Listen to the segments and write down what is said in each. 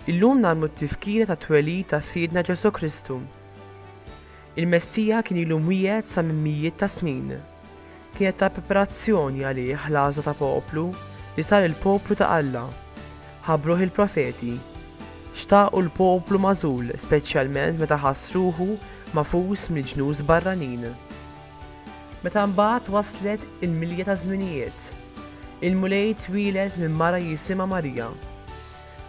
Illum nagħmlu t-tifkira ta' twelid ta' Sidna Ġesu Kristu. Il-Messija kien ilu mwiegħed sa minn mijiet ta' snin. Kienet ta' preparazzjoni għalih l-għażla ta' poplu li sar il-poplu ta' Alla. Ħabbruh il-profeti. Xtaqu l-poplu magħżul speċjalment meta ħass ruħu magħfus mill-ġnus barranin. Meta mbagħad waslet il-milja taż-żminijiet, il-Mulej twieled minn mara jisimha Marija.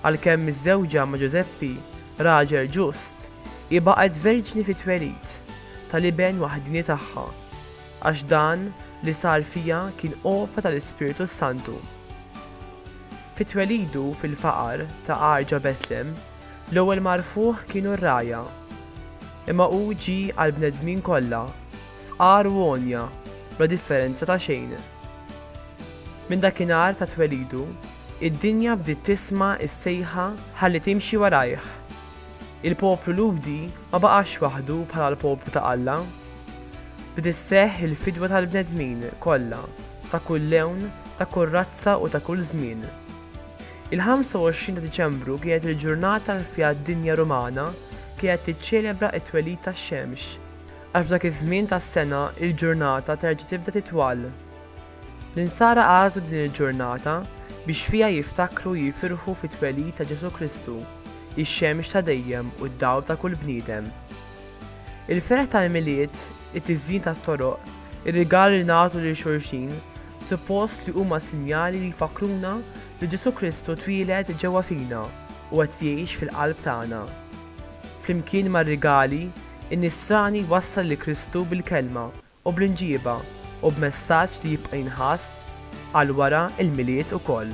għalkemm miżżewġa ma' Ġużeppi, raġel ġust, hi baqgħet verġni fit-twelid tal-iben waħdieni tagħha, għax dan li sar fiha kien opra tal-Ispirtu s-Santu. Fi twelidu fil-faqar ta' għar ġo Betlem, l-ewwel magħrfuh kienu r-ragħajja. Imma hu ġie għall-bnedmin kollha, fqar u għonja, bla differenza ta' xejn. Minn dakinhar ta' twelidu, id-dinja bdiet tisma' s-sejħa ħalli timxi warajh. Il-poplu Lhudi ma baqax waħdu bħala l-poplu ta' Alla. Bdiet sseħħ il-fidwa tal-bnedmin kollha ta' kull lewn, ta' kull razza u ta' kull żmien. Il-25 ta' Diċembru kienet il-ġurnata li fiha d-dinja Rumana kienet tiċċelebra t-twelid tax-xemx. Għax f'dak iż-żmien tas-sena l-ġurnata terġa' tibda titwal. L-insara għażlu din il-ġurnata biex fiha jiftakru u jifirħu fit-twelid ta' Ġesù Kristu, ix-xemx ta' dejjem u d-dawl ta' kull bniedem. Il-ferħ tal-Milied, it-tiżjin tat-toroq, ir-rigali li nagħtu lil xulxin, suppost li huma sinjali li jfakkruna li Ġesù Kristu twieled ġewwa fina u qed jgħix fil-qalb tagħna. Flimkien mar-rigali, In-Nisrani jwassal lil Kristu bil-kelma u bl-inġieba u b'messaġġ li jibqa' jinħass għal wara l-Milied ukoll.